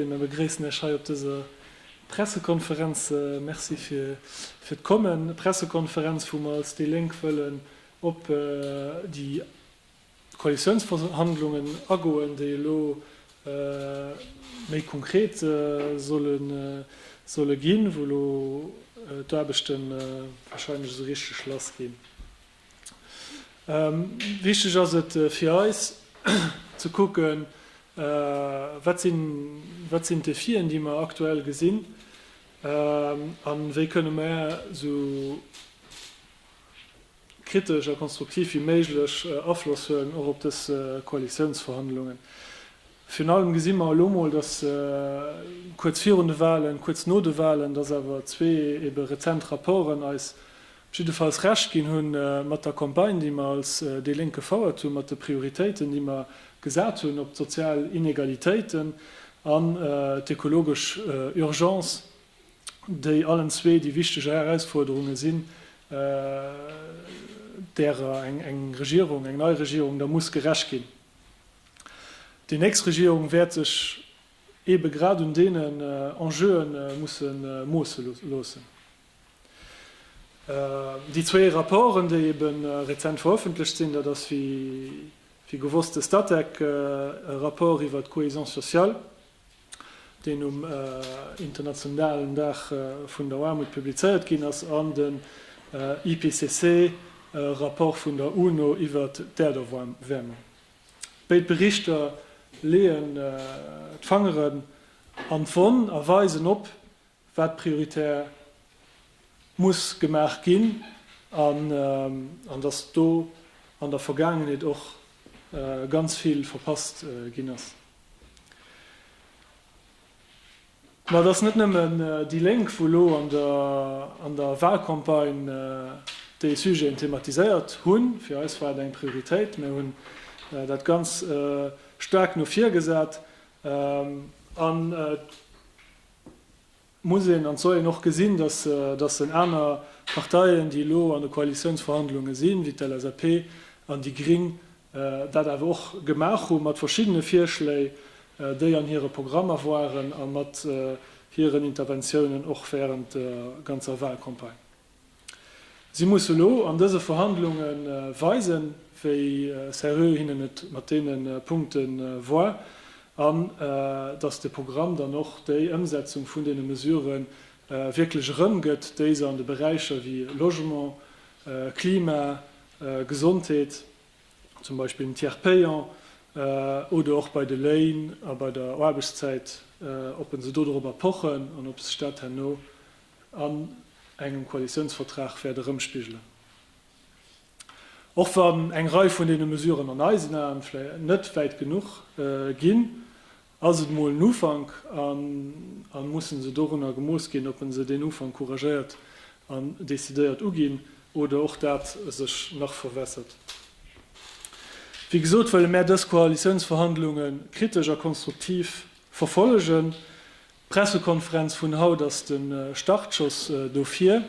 Mir begréissen Iech hei op dëser Pressekonferenz. Merci fir d'Kommen. Pressekonferenz, wou mer als déi Lénk wëllen op déi Koalitiounsverhandlungen agoen, déi elo méi konkret solle ginn, wou elo d'Aarbechte wahrscheinlech esou richteg lass ginn. Wichteg ass et fir eis, ze kucken, wat sinn, wat sinn d'Defien, déi mer aktuell gesinn, a wéi kënne mer esou kritesch a konstruktiv wéi méiglech Afloss huelen, och op dës Koalitiounsverhandlungen. Virun allem gesi mer elo mol, datt kuerz virun de Wahlen, kuerz no de Wahlen, datt awer zwee ebe rezent Rapporten eis jiddefalls Recht ginn hu mat der Campagne, déi mer als déi Lénk gefouert hunn, mat de Prioritéiten, déi mer gesat hunn op d'sozial Inegalitéiten an d'ökologesch Urgence, déi allen zwee déi wichteg Erausforderunge sinn, därer eng Regierung, eng nei Regierung da muss gerecht ginn. Déi nächst Regierung wäert sech eebe grad un deenen Enjeue musse moosse loossen. Déi zwee Rapporten, déi ebe rezent verëffentlecht sinn, dat ass wéi gewosst de Statec, e Rapport iwwert d'Cohésion sociale, deen um internationalen Dag vun der Aarmut publizéiert ginn ass, an den IPCC, e Rapport vun der UNO iwwert d'Äerderwäermung. Béid Berichter leeën d'Fangeren an d'Wonn a weisen op, wat prioritär muss gemaach ginn, an datt do an der Vergaangenheet och ganz vill verpasst ginn ass. Mä et ass net nëmmen déi Lénk, wou elo an der Wahlcampagne déi Sujeten thematiséiert hunn. Fir eis war et eng Prioritéit. Mir hunn dat ganz staark no vir gesat. An muss een an soll een och gesinn, dass dass en aner Parteien, déi elo an de Koalitiounsverhandlunge sinn, wéi d'LSAP an déi Gring, dat awer och gemaach hu mat verschiddene Virschléi, déi an hire Programmer waren a mat hiren Interventiounen och während der ganzer Wahlcampagne. Si musse elo an dëse Verhandlunge weisen, wéi seriö hinnen et mat deene Punkte war an datt de Programm dann och déi Ëmsetzung vun deene Mesurë wierklech erëmgëtt, déi se an de Beräicher wéi Logement, Klima, Gesondheet, zum Beispill den Tiers payant, oder och bei de Léin a bei der Aarbechtszäit, ob se dodrop erpochen an ob sech dat herno an engem Koalitiounsvertrag wäert erëmspigelen. Och wann eng Rei vun deene Mesuren an eisen Aen vläicht net wäit genuch ginn, ass et emol en Ufank an a mussen se dorunner gemooss ginn, ob en se deen Ufank couragéiert an decidéiert uginn oder och dat sech nach verwässert. Wéi gesot wëlle mär dës Koalitiounsverhandlunge kritesch a konstruktiv verfollegen. D'Pressekonferenz vun haut ass de Startschoss dofir.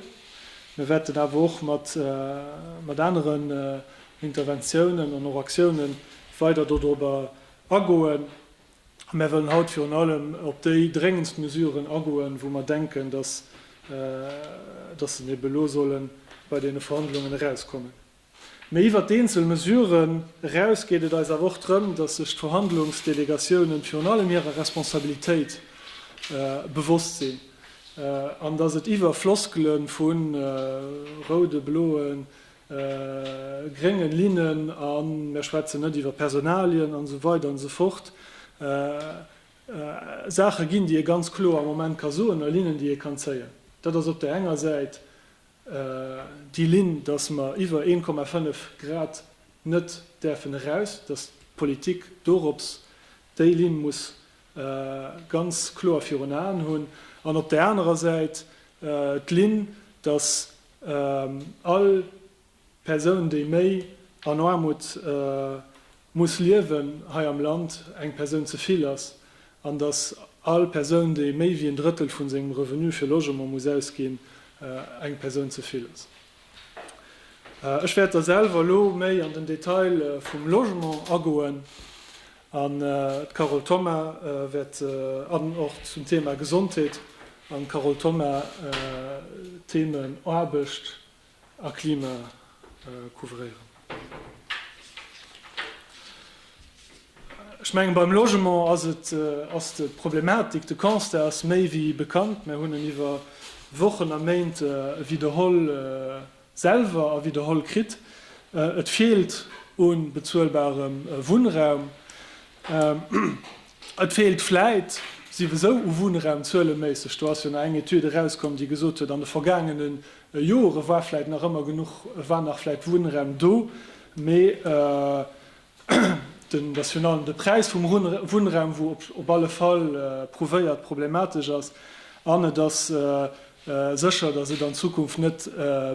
Mir wäerten awer och mat aneren Interventiounen an och Aktiounen weider dodrobber agoen. A mir wëllen haut virun allem op déi dréngendst Mesuren agoen, wou mir denken, dass se ebe lo solle bei deene Verhandlungen erauskommen. Mee iwwert d'eenzel Mesuren eraus geet et eis awer och drëm, dass sech d'Verhandlungsdelegatiounen virun allem hirer Responsabilitéit bewosst sinn an dass et iwwer Floskele vu roude, bloe, grénge Linnen a mär schwätzen net iwwer Personalien an esou weider an esou fort Saache ginn, déi ee ganz kloer am Moment ka soen a Linnen, déi ee kann zéien. Dat ass op där enger Säit déi Linn, datt mer iwwer 1,5 Grad net däerfen eraus, datt d'Politik dorops déi Linn muss ganz kloer virun Aen hunn, an op där anerer Säit d'Linn, datt all Persoun, déi méi an Aarmut muss liewen hei am Land eng Persoun ze vill ass an dass all Persoun, déi méi wéi en Drëttel vu sengem Revenu fir Logement muss ausginn, eng Persoun ze vill ass. Ech wäert da selwer elo méi an den Detail vum Logement agoen an d'Carole Thoma wäert an och zum Thema Gesondheet an d'Carole Thoma d'Themen Aarbecht, a Klima couvréieren. Ech mengen, beim Logement ass et, ass d'Problematik, de Constat ass méi wéi bekannt. Mir hunn en iwwer Wochen a Méint widderholl selwer a widderholl kritt. Et feelt u bezuelbarem Wunnraum. Et feelt vläit siwesou u Wunnraum, zueleméisseg. Do ass jo nach eng Etüd erauskomm, déi gesot huet, an de vergaangene Jo, e war vläit nach ëmmer genuch, e war nach vläit Wunnraum do, mee den, dat ass virun allem de Präis vum Wunnraum, wou op alle Fall prouvéiert problematesch ass. An et ass sécher, datt et an Zukunft net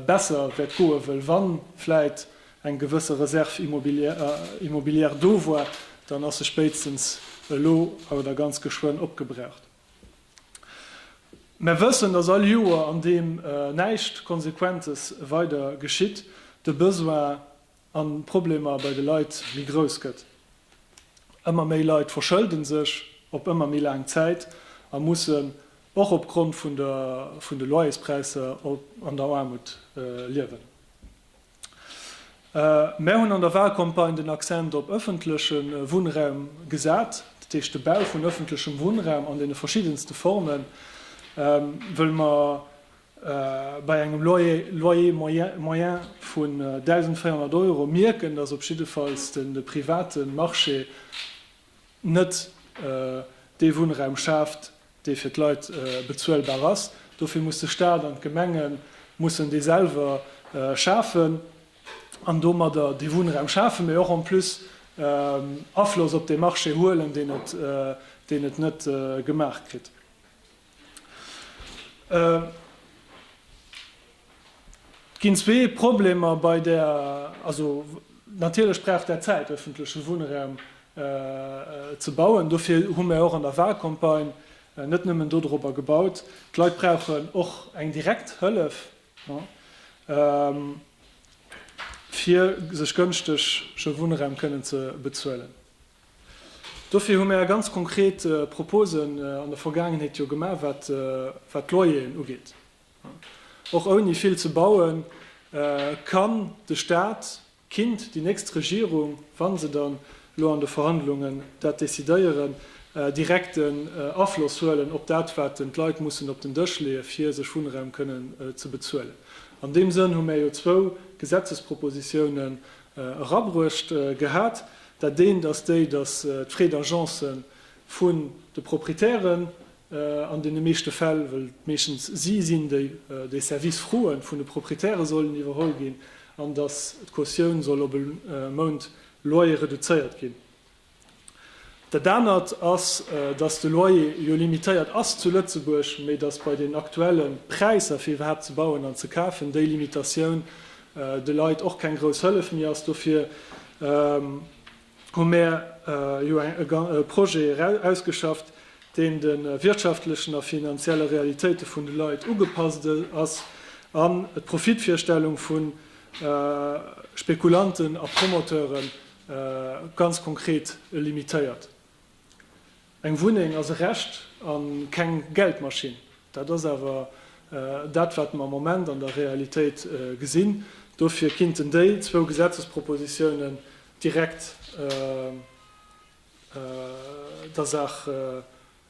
besser wäert goen, wëll wa vläit eng gewësse Reserve immobilière do war, dann ass se spéitstens elo oder ganz geschwënn opgebraucht. Mär wëssen, dass all Joer, an deem näischt Konsequentes weider geschitt, de Besoin an d'Problemer bei de Leit méi grouss gëtt. Ëmmer méi Leit verschëlden sech op ëmmer méi laang Zäit a mussen och op Grond vun de Loyerspräisser an der Aarmut liewen. Mär hunn an der Wahlcampagne den Accent op ëffentleche Wunnraum gesat, dat heescht de Bau vun ëffentlechem Wunnraum an deene verschiddenste Formen, wëll mer bei engem Loyer moyen vun 1.400 Euro mierken, dass op jiddefalls de private Marché, net dee Wunnraum schaaft, dee fir d'Leit bezuelbar ass. Dofir muss de Staat an d'Gemenge mussen dee selwer schafen an domadder dee Wunnraum schafen, mee och en plus Afloss op dee Marché huelen, deen et net gemaach kritt. Et ginn zwee Problemer bei der, also natierlech brauch dat Zäit, öffentleche Wunnraum ze bauen. Dofir hu mär och an der Wahlcampagne net nëmmen dodrobber gebaut. D'Leit brauchen och eng direkt Hëllef, fir sech gënschtege Wunnraum kënnen ze bezuelen. Dofir hu mär ganz konkret Proposen an der Vergaangenheet jo gemaach, wat d'Loyeren ugeet. Och ouni vill ze bauen, kann de Stat, kinnt déi nächst Regierung, wa se dann elo an de Verhandlungen dat decidéieren, direkten Afloss huelen op dat, wat d'Leit mussen op den Dësch leeën, fir sech Wunnraum kënnen ze bezuelen. An deem Sënn hu mär jo zwou Gesetzespropositiounen Erabruecht gehat, dat eent ass déi, datt d'Frais d'agence vun de Proprietären an deene meeschte Fäll, well et meeschtens si sinn, déi déi Service-froen vun de Proprietäre sollen iwwerholl ginn, an datt d'Cautioun soll op e Mount Loyer reduzéiert ginn. Dat anert ass, datt de Loyer jo limitéiert ass zu Lëtzebuerg, mee datt bei den aktuelle Präisser, fir iwwerhaapt ze bauen an ze kafen, déi Limitatioun de Leit och keng grouss Hëllef méi ass. Dofir hu mär jo e Projet ausgeschafft, deen de wirtschaftlechen a finanzielle Realitéite vun de Leit ugepasst ass an d'Profitvirstellung vu Spekulanten a Promoteure Ganz konkret, e limitéiert. Eng Wunneng ass e Recht a keng Geldmaschinn. Dat ass awer dat, wat mer am Moment an der Realitéit gesinn. Dofir kinnten déi zwou Gesetzespropositiounen direkt der Saach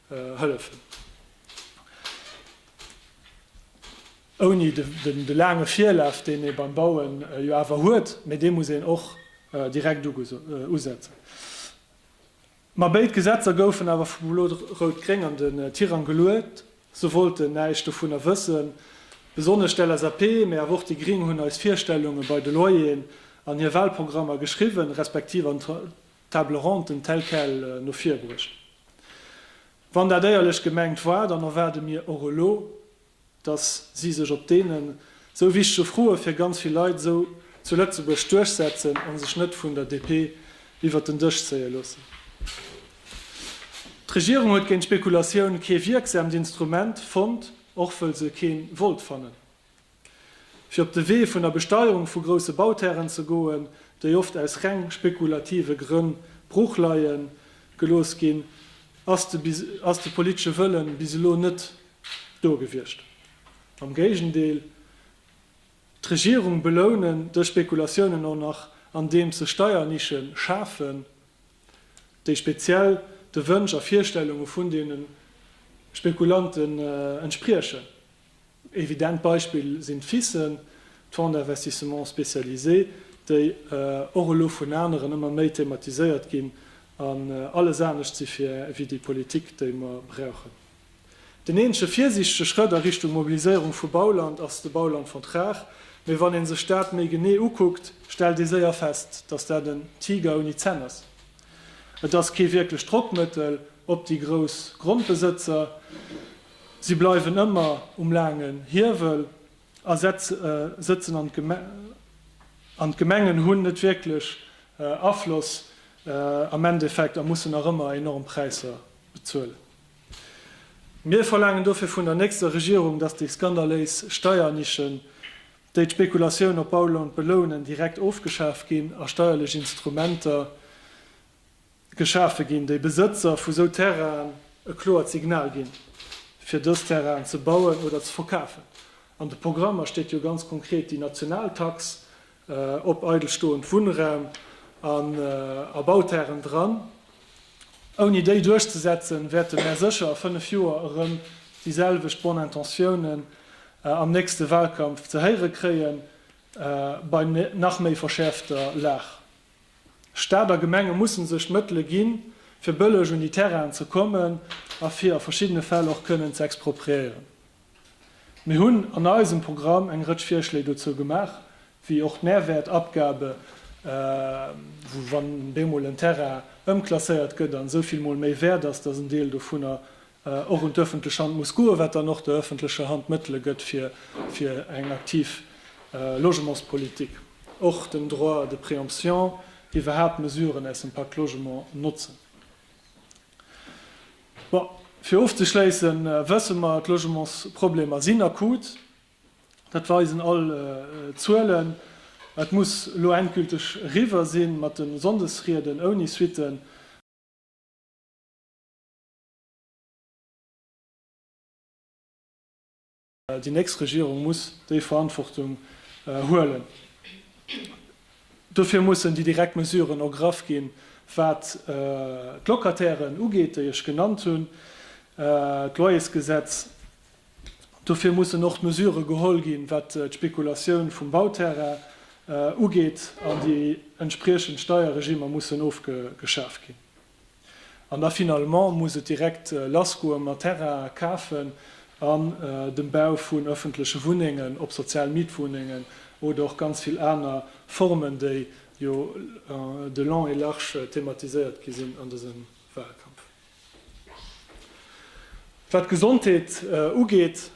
hëllefen. Ouni de laange Virlaf, deen ee beim Bauen jo awer huet, mee dee muss een och direkt usetzen. Ma béid Gesetzer goufen awer vu Blo-Rout-Gréng an den Tirang geluet. Se wollten näischt dovunner wëssen. Besonnesch d'LSAP, mee awer och déi Gring hunn eis Virstellunge bei de Loyeren an hir Walprogrammer geschriwwen, respektiv an Table ronde telle quelle no vir bruecht. Wann dat éierlech gemengt war, dann erwaarde mir och elo, dass si sech op deenen esou wichtege Froe fir ganz vill Leit esou zu Lëtzebuerg duerchsetzen a sech net vun der DP iwwert den Dësch zéie loossen. D'Regierung huet géint d'Spekulatioun kee wierksaamt Instrument fonnt, och wëll se kee wollt fannen. fir op de Wee vun der Besteierung vu grousse Bauterren ze goen, déi oft aus reng spekulative Grënn brooch leie gelooss ginn, ass de politesche Wëlle bis elo net do gewiescht. Am Géigendeel, d'Regierung belounen dës Spekulatiounen och nach, andeems se Steiernische schafen, déi speziell de Wënsch a Virstellunge vun deene Spekulante entspriechen. Evident Beispill sinn d'FISen, d'Fonds d'investissements spécialisés, déi och elo vun aneren ëmmer méi thematiséiert ginn an alles anescht si wéi déi Politik, déi mer brauchen. Den eenzege virsiichtege Schrëtt a Richtung Mobiliséierung vu Bauland ass de Baulandvertrag, mee wann ee sech dat méi genee ukuckt, stellt ee séier fest, dass dat en Tiger ouni Zänn ass. Et ass kee wierklecht Drockmëttel op déi grouss Grondbesëtzer. Si bleiwen ëmmer um laangen Hiewel a sëtzen an an d'Gemengen hunn net wierklech Afloss am Endeffekt a mussen nach ëmmer enorm Präisser bezuelen. Mir verlaangen dofir vun der nächster Regierung, dass déi skandaléis Steiernischen, déi d'Spekulatioun op Bauland belounen, direkt ofgeschaaft ginn a steierlech Instrumenter, Geschafe ginn, déi Besëtzer vu sou Terrainen e kloert Signal ginn, fir dës Terrainen ze bauen oder ze verkafen. An de Programmer steet jo ganz konkret déi national Tax op eidelstoend Wunnraum an a Bauterren dran. Ouni déi duerchzesetzen, wäerte mär sécher a fënnef Joer erëm déi selwecht Bonne Intentiounen am nächste Wahlkampf ze héiere kréien, bei nach méi verschäerfter Lag. Staat a Gemenge mussen sech d'Mëttele ginn, fir bëlleg un déi Terrainen ze kommen a fir a verschiddene Fäll och kënnen ze expropriéieren. Mir hunn an eisem Programm eng Rëtsch Virschléi dozou gemaach, wéi och d'Mehrwertabgabe, wou, wann deemol en Terrain ëmklasséiert gëtt an esou vill Mol méi wäert ass, dass en Deel dovunner och un d'öffentlech Hand muss goen, wat dann och der öffentlecher Hand Mëttele gëtt fir eng aktiv Logementspolitik, och den Droit de préemption, iwwerhaapt Mesuren aus dem Pacte Logement notzen. Bon, fir ofzeschléissen wësse mer, d'Logementsproblemer sinn akut, dat weisen all Zuelen. Et muss elo endgülteg eriwwer si mat de Sonndesrieden ouni Suitten. Déi nächst Regierung muss déi Verantwortung huelen. Dofir mussen déi direkt Mesuren ergraff ginn, wat d'Locatairen ugeet, déi ech genannt hunn, d'Loyersgesetz. Dofir mussen och d'Mesurë geholl ginn, wat d'Spekulatioun vum Bauterrain ugeet, an déi entspriechend Steierregimer mussen ofgeschaf ginn. An da finalement muss et direkt lassgoe mat Terrain kafen an dem Bau vun öffentleche Wunnengen, ob sozial Mietwunnengen oder och ganz vill aner Formen, déi jo de long et large thematiséiert gi sinn an dësem Wahlkampf. Wat d'Gesondheet ugeet,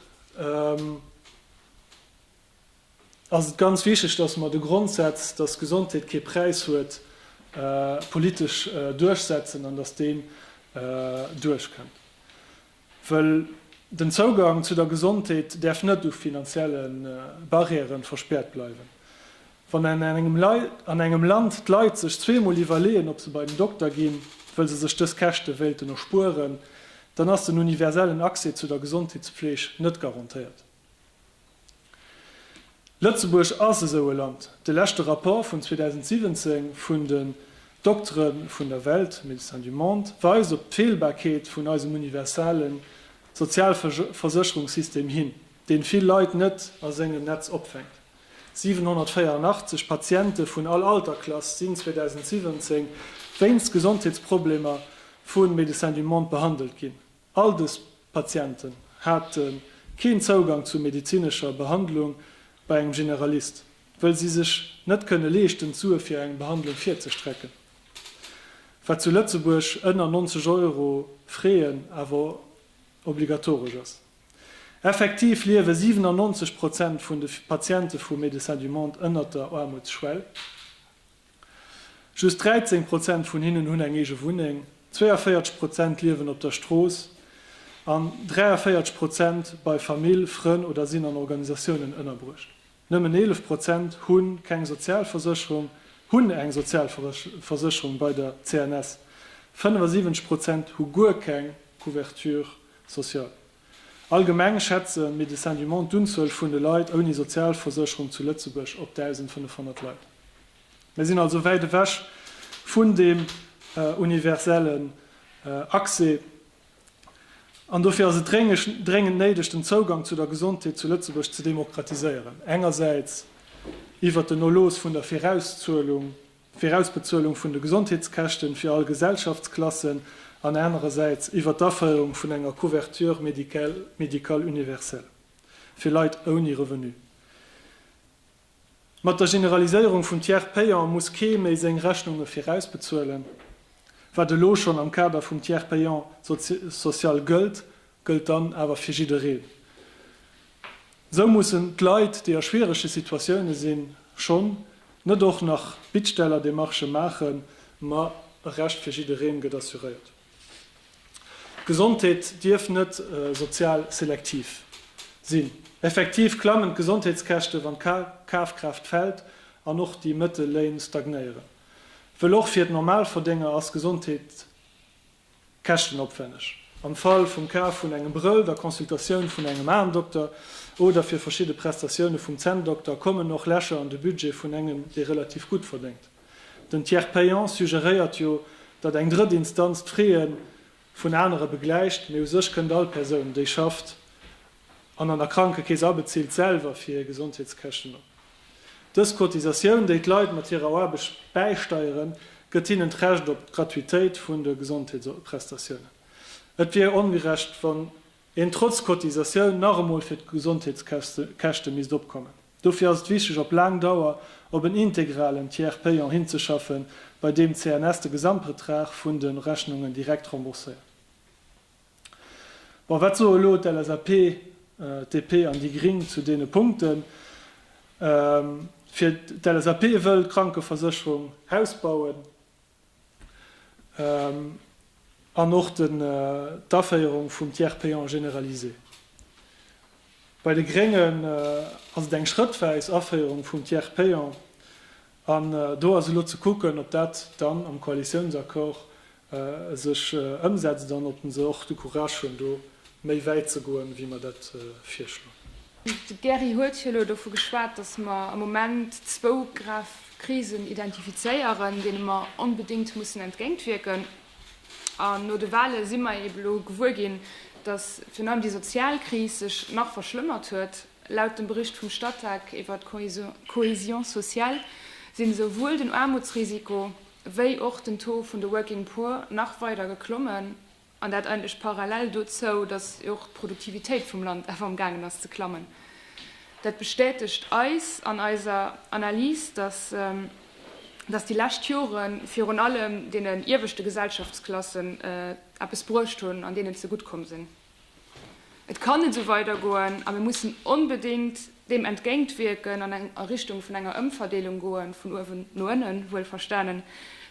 ass et ganz wichteg, dass mer de Grondsätz, dass Gesondheet kee Präis huet, politesch duerchsetzen an dass deen duerchkënnt. Wëll den Zougang zu der Gesondheet däerf net u finanzielle Barrièrë verspäert bleiwen. Wann an engem Land d'Leit sech zweemol iwwerleeën, ob se bei den Dokter ginn, wëll se sech dës Käschte wéilten erspueren, dann ass den universellen Accès zu der Gesondheetspfleeg net garantéiert. Lëtzebuerg ass esou e Land. De leschte Rapport vun 2017 vun den Doktere vun der Welt, Médecins du Monde, weist op d'Feelbarkeet vun eisem universale Sozialversécherungssystem hin, deen vill Leit net a sengem Netz opfänkt. 784 Patiente vun all Alterklass sinn 2017 wéinst Gesondheetsproblemer vu Médecins du Monde behandelt ginn. All dës Patienten hate keen Zougang zu medezinescher Behandlung bei engem Generalist, wëll si sech net kënne leeschten d'Sue fir eng Behandlung virzestrecken, wat zu Lëtzebuerg ënner 90 Euro Fräen awer obligatoresch ass. Effektiv liewe 97 Prozent vun de Patiente vu Médecins du Monde ënner der Aarmutsschwell. Just 13 Prozent vun hinnen hunn eng eege Wunneng, 42 Prozent liewen op der Strooss an 43 Prozent bei Famill, Frënn oder sinn an Organisatiounen ënnerbruecht. Nëmmen 11 Prozent hu keng Sozialversécherung, hunn eng Sozialversécherung bei der CNS. 75 Prozent hu guer keng Couverture sociale. Allgemeng schätze Médecins du Monde d'Unzuel vun de Leit ouni Sozialversécherung zu Lëtzebuerg op 1.500 Leit. Mir sinn also wäit ewech vun deem universellen Accès an dofir ass et dréngend néideg, den Zougang zu der Gesondheet zu Lëtzebuerg ze demokratiséieren, engersäits iwwert den Erlooss vun der Virauszuelung, Virausbezuelung vun de Gesondheetskäschten fir all Gesellschaftsklassen an anerersäits iwwer d'Aféierung vun enger Couverture médicale médicale universelle fir Leit ouni Revenu. Mat der Generaliséierung vum Tiers payant muss kee méi seng Rechnunge virausbezuelen, wat elo schonn am Kader vum Tiers payant social gëllt gëllt dann awer fir jiddereen. Esou mussen d'Leit, déi a schwierege Situatioune sinn, schonn net och nach Bittstellerdemarchë maachen, ma e Recht fir jiddereen gëtt assuréiert. D'Gesondheet dierf net sozial selektiv sinn. Effektiv klammen d'Gesondheetskäschte wann d'Kafkraaft fält an och déi Mëttelléin stagnéieren, wëll och fir d'Normalverdénger ass Gesondheet Käschtenopwänneg. Am Fall vum Kaf vun engem Brëll, der Consultatioun vun engem Aendokter oder fir verschidde Prestatioune vum Zänndokter kommen och Lächer an de Budget vun engem, dee relativ gutt verdéngt. Den Tiers payant suggeréiert jo, datt eng drëtt Instanz d'Frae vun anere begläicht, mee u sech kënnt all Persoun, déi schafft, an an der Krankekeess abezilt, selwer fir hir Gesondheetskäschten op. Dës Cotisatioun, déi d'Leit mat hirer Aarbecht bäisteieren, gëtt hinnen d'Recht op d'Gratuitéit vun de Gesondheetsprestatiounen. Et wier ongerecht, wann een trotz Cotisatioun nach emol fir d'Gesondheetskäschte misst opkommen. Dofir ass et wichteg, op laang Dauer op en integralen Tiers payant hinzeschaffen, bei deem d'CNS de Gesamtbetrag vun de Rechnungen direkt rembourséiert. Bon, wat soe elo d'LSAP, d'DP an déi Gring zu deene Punkten? Fir d'LSAP wëll d'Krankeversécherung Haus bauen an och d'Aféierung vum Tiers payant généralisé. Bei de Gréngen ass et eng schrëttwäis Aféierung vum Tiers payant an do ass elo ze kucken, ob dat dann am Koalitiounsaccord sech ëmsetzt an ob se och de Courage hunn, do méi wäit ze goen, wéi mer dat virschloen. De Gerry huet jo elo dovu geschwat, dass mer am Moment zwou grav Krisen identifizéieren, deene mer onbedéngt mussen entgéintwierken. An no de Wahle si mer eeben elo gewuer ginn, dass virun allem déi sozial Kris sech nach verschlëmmert huet. Laut dem Bericht vum Statec iwwert d'Cohésion sociale sinn esouwuel den Aarmutsrisiko, wéi och den Taux vun de Working Poor nach weider geklommen, an dat eigentlech parallel dozou, datt och d'Produktivitéit vum Land awer am gaangen ass ze klammen. Dat bestätegt eis an eiser Analys, datt datt déi lescht Jore virun allem deenen ieweschte Gesellschaftsklassen eppes bruecht hunn an deenen ze gutt komm sinn. Et kann net esou weidergoen a mir mussen onbedéngt deem entgéintwierken an a Richtung vun enger Ëmverdeelung goen, vun uewen no ënnen, wuelverstanen,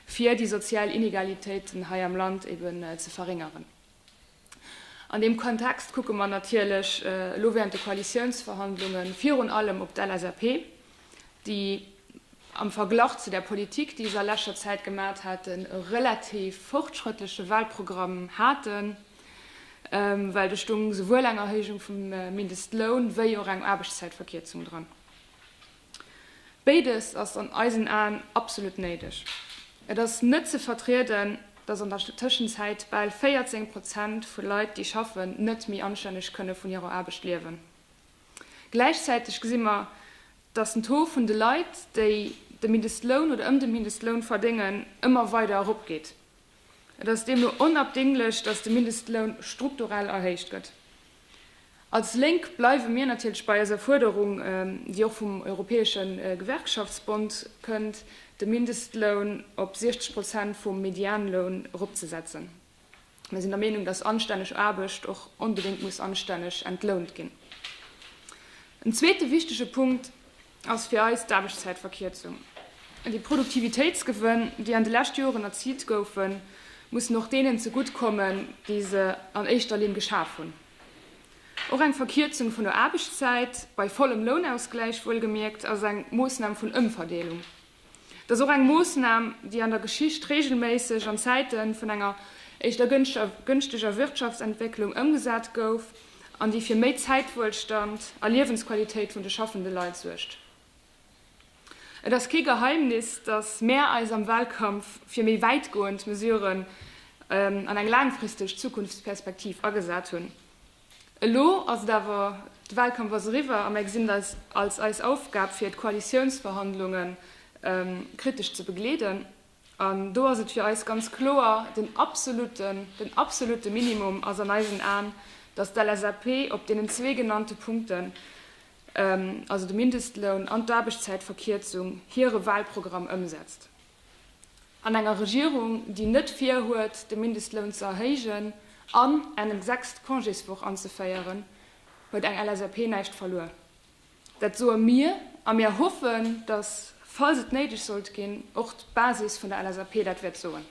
fir déi sozial Inegalitéiten hei am Land eben ze verréngeren. An deem Kontext kucke mer natierlech elo während de Koalitiounsverhandlunge virun allem op d'LSAP. déi am Verglach zu der Politik, déi ech a leschter Zäit gemaacht haten, e relativ fortschrëttleche Wahlprogramm haten, well do stung souwuel eng Erhéijung vum Mindestloun wéi och eng Aarbechtszäitverkierzung dran. Béides ass an eisen Aen absolut néideg. Et ass net ze vertrieden, dass an der Tëschenzäit bal 14 Prozent vu Leit, déi schaffen, net méi anstänneg kënne vun hirer Aarbecht liewen. Gläichzäiteg gesi mer, datt den Taux vun de Leit, déi de Mindestloun oder ëm de Mindestloun verdéngen, ëmmer weider eropgeet. Et ass deemno onabdinglech, datt de Mindestloun strukturell erhéicht gëtt. Als Lénk bleiwe mir natierlech bei eiser Fuerderung, déi och vum Europäesche Gewerkschaftsbond kënnt, de Mindestloun op 60 Prozent vum Medianloun eropzesetzen. Mir sinn der Meenung, dass anstänneg Aarbecht och onbedéngt muss anstänneg entlount ginn. En zweete wichtege Punkt ass fir eis d'Aarbechtszäitverkierzung. Déi Produktivitéitsgewënn, déi an de leschte Joren erziilt goufen, mussen och deenen zegutt kommen, déi se an éischter Linn geschaf hunn. Och eng Verkierzung vun der Aarbechtszäit, bei vollem Lounausgläich wuelgemierkt, ass eng Moossnam vun Ëmverdeelung. Et ass och eng Moossnam, déi an der Geschicht reegelméisseg an Zäite vun enger éischter gënschteger Wirtschaftsentwécklung ëmgesat gouf an déi fir méi Zäitwuelstand a Liewensqualitéit vun de schaffende Leit suergt. Et ass kee Geheimnis, dass mär eis am Wahlkampf fir méi wäitgoend Mesuren an eng laangfristeg Zukunftsperspektiv agesat hunn. Elo ass et awer, de Wahlkampf ass eriwwer a mer gesinn et eis als eis Aufgab fir d'Koalitiounsverhandlunge kritesch ze begleeden. An do ass et fir eis ganz kloer, den absoluten, den absolute Minimum ass an eisen Aen, datt d'LSAP op deenen zwee genannte Punkten, also de Mindestloun an d'Aarbechtszäitverkierzung, hire Wahlprogramm ëmsetzt. an enger Regierung, déi net virhuet, de Mindestloun ze erhéijen an eng sechst Congéswoch anzeféieren, huet eng LSAP näischt verluer. Dat soe mir a mir hoffen, datt, falls et néideg sollt ginn, och d'Basis vun der LSAP dat wäert soen.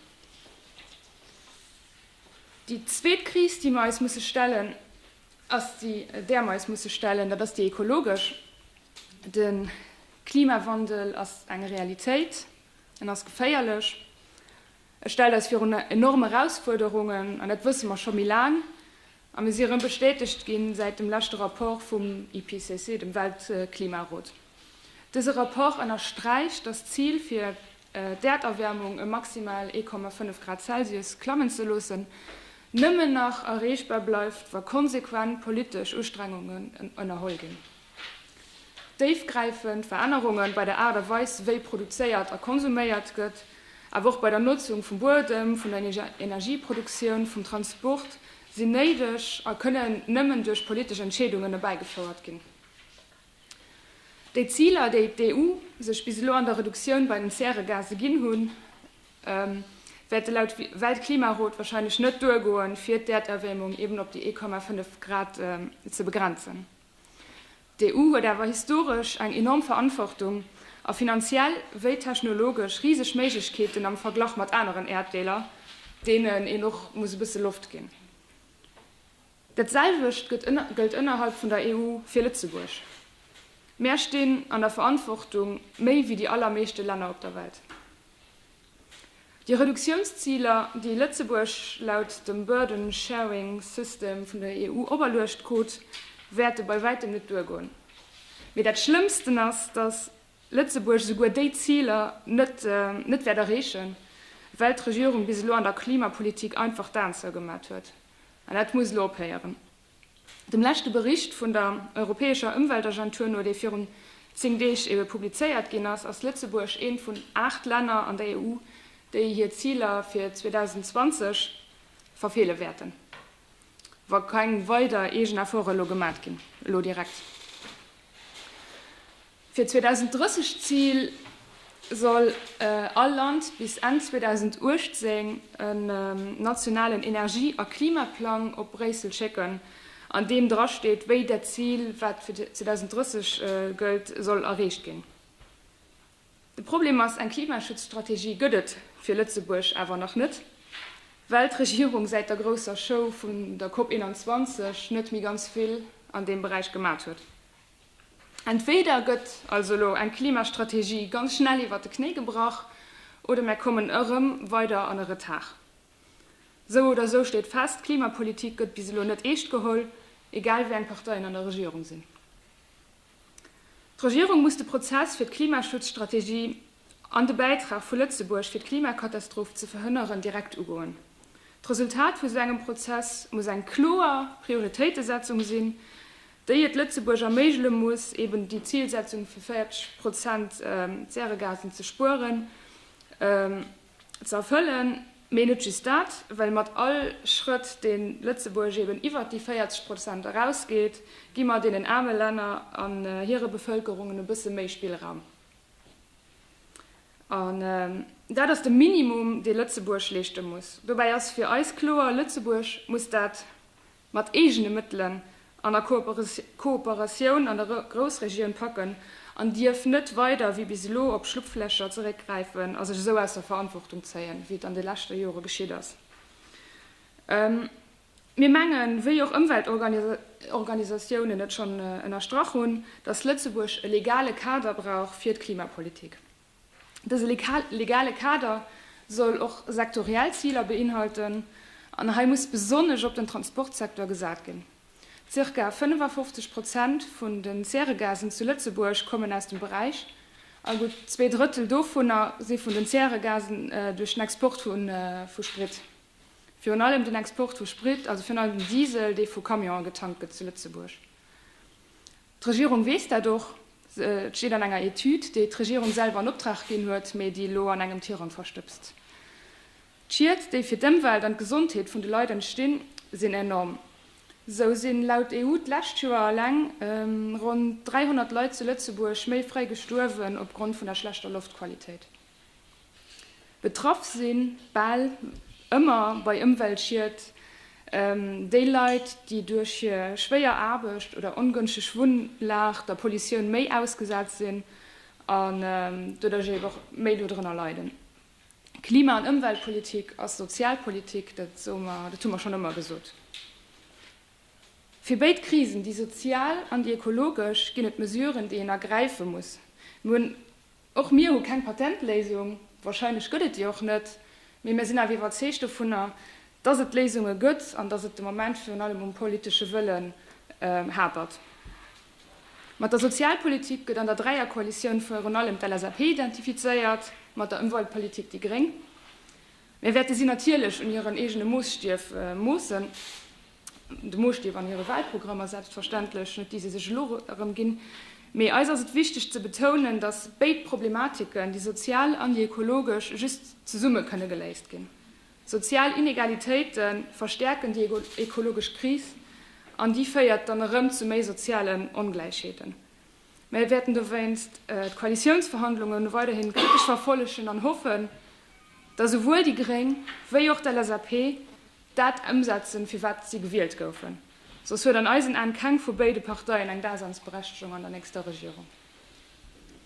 Déi zweet Kris, déi mir eis musse stellen, ass déi, där mer eis musse stellen, dat ass déi ekologesch. De Klimawandel ass eng Realitéit, en ass geféierlech, e stellt eis virun enorm Erausfuerderungen, an dat wësse mer scho méi laang. A mir si erëm bestätegt ginn säit dem leschte Rapport vum IPCC, dem Weltklimarot. Dëse Rapport ënnersträicht, dass d'Zil, fir d'Äerderwäermung ëm maximal 1,5 Grad Celsius klammen ze loossen, nëmmen nach erreechbar bleift, wa konsequent politesch Ustrengungen ënnerholl ginn. Déifgräifend Verännerunge bei der Aart a Weis wéi produzéiert a konsuméiert gëtt, awer och bei der Notzung vum Buedem, vun der Energieproduktioun, vum Transport sinn néideg a kënnen nëmmen duerch politesch Entscheedungen erbäigefouert ginn. Déi Ziler, déi d'EU sech bis elo an der Reduktioun bei den Zäregase ginn hunn, wäerte laut Weltklimarot wahrscheinlech net duergoen, fir d'Äerderwäermung eben op déi 1,5 Grad ze begrenzen. D'EU huet awer historesch eng enorm Verantwortung a finanziell wéi technologesch riseg Méiglechkeeten am Verglach mat aneren Äerddeeler, deenen een och muss e bësse Loft ginn. Dat selwecht gëllt ënnerhalb vun der EU fir Lëtzebuerg. Mär stinn an der Verantwortung, méi wéi déi allermeeschte Länner op der Welt. Déi Reduktiounsziler, déi Lëtzebuerg laut dem Burden Sharing System vun der EU operluecht krut, wäerte bei wäitem net duergoen. Mee dat Schlëmmsten ass, datt Lëtzebuerg esouguer déi Ziler net wäert erreechen, well d'Regierung bis elo an der Klimapolitik einfach d'Aen zougemat huet. An dat muss elo ophéieren. Dem leschte Bericht vun der europäescher Ëmweltagentur no, dee virun 10 Deeg ebe publizéiert ginn ass, ass Lëtzebuerg eent vun 8 Länner an der EU, déi hir Ziler fir 2020 verfeele wäerten, wa keng weider eegen Efforte elo gemat ginn. Elo direkt. Fir 2030 d'Zil, soll all Land bis Enn 2018 en nationalen Energie a Klimaplang op Bréissel schécken, an deem dra steet, wéi dat Zil, wat fir 2030 gëllt, soll erreecht ginn. De Problem ass, eng Klimaschutzstrategie gëtt et fir Lëtzebuerg awer nach net, well d'Regierung säit der grousser Show vun der COP 21 net méi ganz vill an deem Beräich gemaacht huet. Entweder gëtt also elo eng Klimastrategie ganz schnell iwwert de Knéi gebrach oder mär kommen ërem weider an e Retard. Esou oder esou steet fest, d'Klimapolitik gëtt bis elo net eescht geholl, egal wéi eng Parteien an der Regierung sinn. D'Regierung muss de Prozess fir d'Klimaschutzstrategie an de Bäitrag vu Lëtzebuerg fir d'Klimakatastroph ze verhënneren direkt ugoen. D'Resultat vu sou engem Prozess muss eng kloer Prioritéitesetzung sinn, déi et Lëtzebuerg erméigele muss, eben déi Zilsetzung vu 40 Prozent Zäregasen ze spueren, ze erfëllen, mee net just dat, well mat all Schrëtt, dee Lëtzebuerg eben iwwert déi 40 Prozent erausgeet, gi mer deenen aarme Länner an hire Bevëlkerungen e bësse méi Spillraum. An dat ass de Minimum, dee Lëtzebuerg leeschte muss. Dobäi ass fir eis kloer, Lëtzebuerg muss dat mat eegene Mëttelen an a Kooperatioun an der Groussregioun packen an dierf net weider wéi bis elo op Schlupflächer zeréckgräifen a sech esou aus der Verantwortung zéien, wéi et an de leschte Jore geschitt ass. Mir mengen, wéi och Ëmweltorganisatiounen et schonn ënnerstrach hunn, datt Lëtzebuerg e legale Kader brauch fir d'Klimapolitik. Dëse legale Kader soll och sektoriell Ziler beinhalten, an hei muss besonnesch op den Transportsektor gesat ginn. Zirka 55 Prozent vun den Zäregasen zu Lëtzebuerg kommen aus dem Beräich, a gutt zwee Drëttel dovunner si vun den Zäregasen duerch den Export vu Sprit, virun allem den Export vu Sprit, also virun allem den Diesel, dee vu Camionen getankt gëtt zu Lëtzebuerg. D'Regierung weess dat och. Et steet an enger Etüd, déi d'Regierung selwer an Optrag ginn huet, mee déi elo an engem Tirang verstëbst. D'Schied, déi fir d'Ëmwelt an d'Gesondheet vun de Leit entstinn, sinn enorm. Esou sinn laut EU d'lescht Joer eleng ronn 300 Leit zu Lëtzebuerg méi fréi gestuerwen opgrond vun der schlechter Loftqualitéit. Betraff sinn bal ëmmer bei Ëmweltschied déi Leit, déi duerch hir schwéier Aarbecht oder ongënschteg Wunnlag der Pollutioun méi ausgesat sinn an doduerch eben och méi dodrënner leiden. Klima an Ëmweltpolitik ass Sozialpolitik, dat soe mer, dat hu mer schonn ëmmer gesot. Fir béid Krisen, déi sozial an déi ökologesch, ginn et Mesuren, déi een ergräife muss. Mir hunn. Och mir hu keng Patentléisung, wahrscheinlech gëtt et déi och net, mee mir sinn awer iwwerzeegt dovunner, dass et Léisunge gëtt an dass et de Moment virun allem um politesche Wëllen hapert. Mat der Sozialpolitik gëtt an der Dräierkoalitioun virun allem d'LSAP identifizéiert, mat der Ëmweltpolitik déi Gréng. Mir wäerte si natierlech un hiren eegene Moosstiew moossen, de Moosstiew an hire Wahlprogrammer selbstverständlech, net déi se sech elo erëm ginn. Mee eis ass et wichteg ze betounen, datt béid Problematiken, déi sozial an déi ekologesch, just zesumme kënne geléist ginn. Sozial Inegalitéite verstäerken déi ekologesch Kris an déi féiert dann erëm zu méi sozialen Ongläichheeten. Mir wäerten dowéinst d'Koalitiounsverhandlungen weiderhin kritesch verfollegen an hoffen, datt esouwuel déi gréng wéi och d'LSAP dat ëmsetzen, fir wat si gewielt goufen. Soss huet an eisen Aen keng vu béide Parteien eng Daseinsberechtegung an der nächster Regierung.